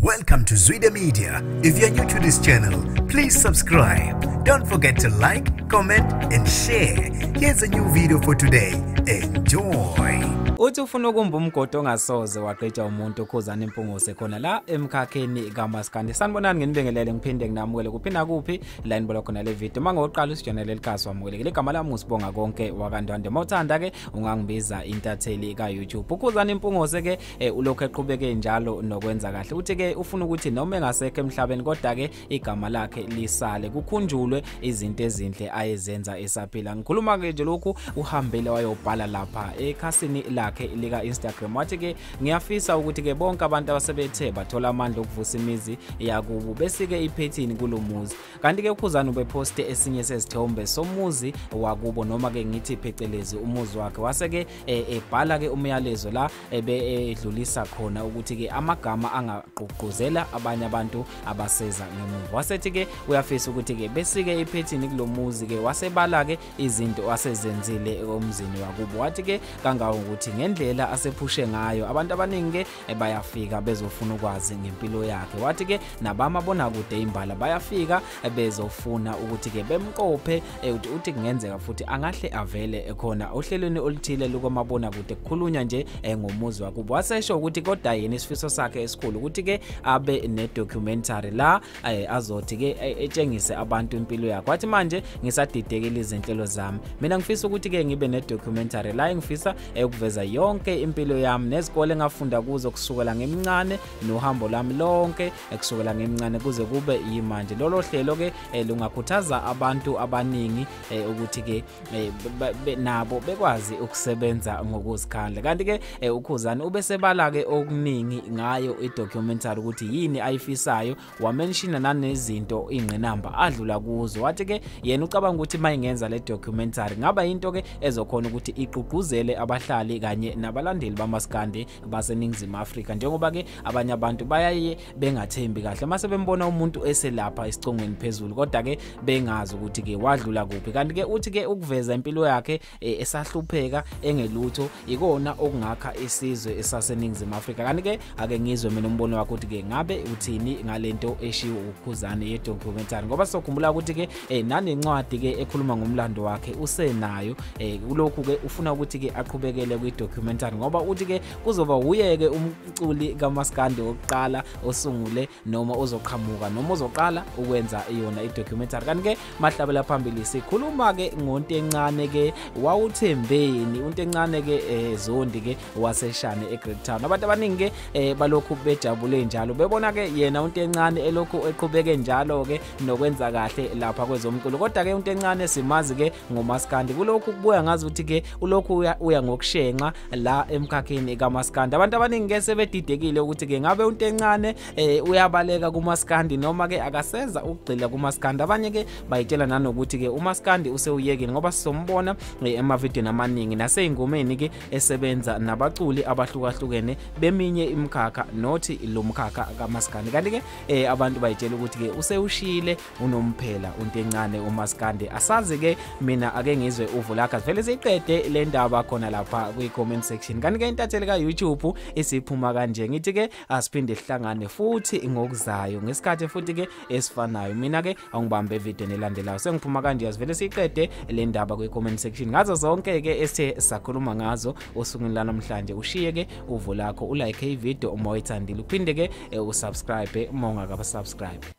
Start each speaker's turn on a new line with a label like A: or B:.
A: Welcome to Zwide Media. If you're new to this channel, please subscribe. Don't forget to like, comment and share. Here's a new video for today. Enjoy. Uthi ufuna
B: ukumba umgodi ongasoze wagqitshwa umuntu ukhuzana impungose khona la emkhakheni kamaskandi. Sanibonani nginibingelele ngiphinde nginamukele kuphi nakuphi la inibona khona le video. Uma ngoqala usijonele likhasi wamukelekile igama lami usibonga konke wakandwande. Uma uthanda ke ungangibiza intatheli ka YouTube. Ukhuzana impungose ke eh, ulokhu eqhubeke njalo nokwenza kahle uthi ke ufuna ukuthi noma engasekho emhlabeni kodwa ke igama lakhe lisale kukhunjulwe izinto ezinhle ayezenza esaphila ngikhuluma ke nje lokhu uhambile wayobhala lapha ekhasini lakhe lika Instagram wathi ke ngiyafisa ukuthi ke bonke abantu abasebethe bathola amandla okuvusa imizi yakubo besike iphethini kulomuzi kanti-ke ukhuzani ubephoste esinye sezithombe somuzi wakubo noma-ke ngithi phecelezi umuzi wakhe wase-ke eh, ebhala-ke umyalezo la ebedlulisa khona ukuthi-ke amagama angagqugquzela abanye abantu abaseza ngemuva wasethi-ke uyafisa ukuthi-ke besike iphethini kulo muzi-ke wasebala-ke izinto asezenzile emzini wakubo wathi-ke kangangokuthi ngendlela asephushe ngayo abantu abaningi-ke bayafika bezofuna ukwazi ngempilo yakhe wathi ke nabamabonakude imbala bayafika bezofuna ukuthi ke bemqophe eh, uthi uthi kungenzeka futhi angahle avele ekhona ohlelweni oluthile lukamabona kude kukhulunywa nje eh, ngomuzi wakubo wasesho ukuthi kodwa yena isifiso sakhe esikhulu ukuthi ke abe ne documentary la aye azothi ke e, etshengise abantu impilo yakhe wathi manje ngisadidekile izinhlelo zami mina ngifisa ukuthi ke ngibe ne documentary la engifisa eyokuveza yonke impilo yami nezikole ngafunda kuzo kusukela ngemincane nohambo lami lonke ekusukela ngemincane kuze kube yimanje lolo hlelo ke eh, lungakhuthaza abantu abaningi eh, ukuthi ke eh, nabo bekwazi ukusebenza ngokuzikhandla kanti ke eh, ukhuzani ubesebala ke okuningi ngayo idocumentary ukuthi yini ayifisayo wamenshina nanezinto ingqinamba adlula kuzo wathi ke yena ucabanga ukuthi mayingenza le documentary ngaba into ke ezokhona ukuthi iqugquzele abahlali kanye nabalandeli bamaskandi baseningizimu Afrika njengoba ke abanye abantu bayaye bengathembi kahle mase bembona umuntu eselapha isicongweni phezulu kodwa ke bengazi ukuthi ke wadlula kuphi kanti ke uthi ke ukuveza impilo yakhe eh, esahlupheka engelutho ikona okungakha isizwe esaseningizimu Afrika kanti ke ake ngizwe mina umbono wakho ukuthi ke ngabe uthini ngalento eshiwo ukhuzane ye documentary ngoba sokhumbula ukuthi ke eh, nanencwadi ke ekhuluma ngomlando wakhe usenayo eh, kulokhu ke ufuna ukuthi ke aqhubekele kwi documentary ngoba uthi ke kuzoba wuyeke umculi kamaskandi wokuqala osungule noma ozoqhamuka noma ozoqala ukwenza yona idocumentary kanti-ke mahlabela phambili sikhuluma-ke ngontencane-ke wawuthembeni untencane-ke um eh, zondi-ke waseshane egreat town abantu abaningi-ke um balokhu bejabule njalo bebona-ke yena untencane elokhu eqhubeke njalo-ke nokwenza kahle lapha kwezomculo kodwa-ke untencane simazi-ke ngomaskandi kulokhu kubuya ngazi ukuthi ke ulokhu uya, uya ngokushenxa la emkhakheni kamaskandi abantu abaningi ke sebedidekile ukuthi ke ngabe unto encane eh, uyabaleka kumaskandi noma ke akaseza ukugxila kumaskandi abanye ke bayitshela nanokuthi ke umaskandi usewuyekile ngoba sizombona eh, emavideo amaningi naseyingomeni ke esebenza nabaculi abahlukahlukene beminye imkhakha nothi lo mkhakha kamaskandi kanti ke eh, abantu bayitshela ukuthi ke usewushile unomphela untencane umaskande asazi ke mina ake ngizwe uvu lakhe vele siqede le ndaba khona lapha kwi-comment section kanti ke intatheli ka-youtube isiphuma kanje ngithi ke asiphinde sihlangane futhi ngokuzayo ngesikhathi futhi ke esifanayo mina ke angibambe evideni elandelayo sengiphuma kanje asivele siqede le ndaba kwi-comment section ngazo zonke ke esithe sakhuluma ngazo osukwini lanamhlanje ushiye ke uvu lakho ulike ivideo uma uyithandile uphinde ke eh, usubscribe uma ungakabasubscribe